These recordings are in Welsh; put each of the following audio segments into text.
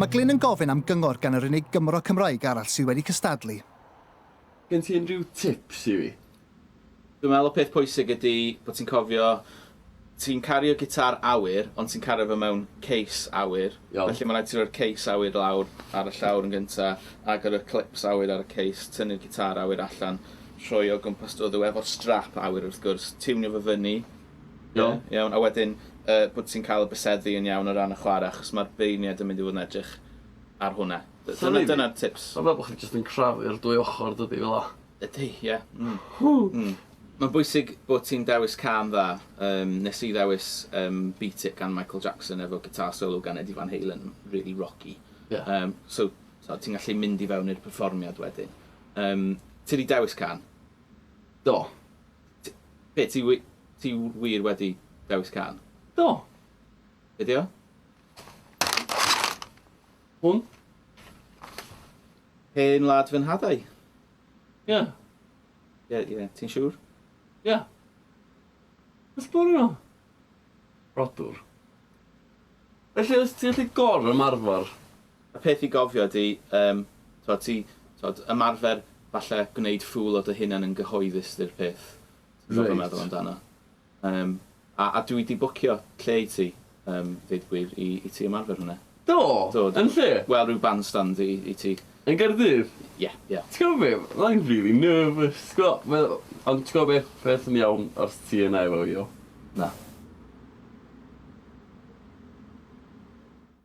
Mae Glyn yn gofyn am gyngor gan yr unig Gymro Cymraeg arall sydd wedi cystadlu. Gen ti unrhyw tips i fi? Dwi'n meddwl y peth pwysig ydy bod ti'n cofio Ti'n cario gitar awyr, ond ti'n cario fe mewn case awyr. Iawn. Felly mae'n rhaid i ti roi'r case awyr lawr ar y llawr yn gynta, agor y clips awyr ar y case, tynnu'r gitar awyr allan, rhoi o gwmpas dy oddw efo'r strap awyr wrth gwrs, tiwnio fo fyny, Iawn. ie, iawn, a wedyn yy bod ti'n cael y byseddu yn iawn o ran y chwarae, achos mae'r beirniaid yn mynd i fod yn edrych ar hwnna. Dyna, dyna'r tips. O'n i'n meddwl bod chdi jyst yn crafu'r dwy ochr dydi, fel 'na? Ydy, ie. Mm. Ww! Mm. Mae'n bwysig bod ti'n dewis cân dda. Yym, nes i ddewis yym, Beat It gan Michael Jackson efo guitar solo gan Eddie Van Halen, really rocky. Yeah. Um, so, so ti'n gallu mynd i fewn i'r perfformiad wedyn. Um, ti wedi dewis can? Do. Ti, be, ti, ti wir wedi dewis can? Do. Be di o? Hwn? Hen wlad fy nhadau. Ie. Ie, ie, ti'n siŵr? Ie. Wrth bwrw nhw? Rhodwr. Felly, os ti'n gallu gor ymarfer, y peth i gofio ydy, um, twa, ti, twa, ymarfer falle gwneud ffwl o dy hunan yn gyhoeddus ydy'r peth. Ti'n gwybod beth meddwl amdano? Yym, a, a dwi 'di bwcio lle i ti, yym, deud gwir, i, i ti ymarfer hwnna. Do? Do, do. Yn lle? Wel, ryw bandstand i, i ti. Yn Gaerdydd? Ie, ie. Ti'n gwybod be, fydda i'n rili nervous, ti'n gwybod, mae o... Ond ti'n gwybod beth, beth sy'n iawn os ti yna efo fi, iawn? Na.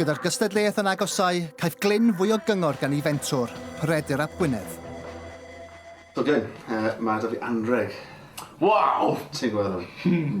Gyda'r gystadleuaeth yn agosáu, caiff Glyn fwy o gyngor gan ei fentwr, Peredur ap Gwynedd. So Glyn, yy, mae 'da fi anrheg. Waw! Ti'n gweld hwn?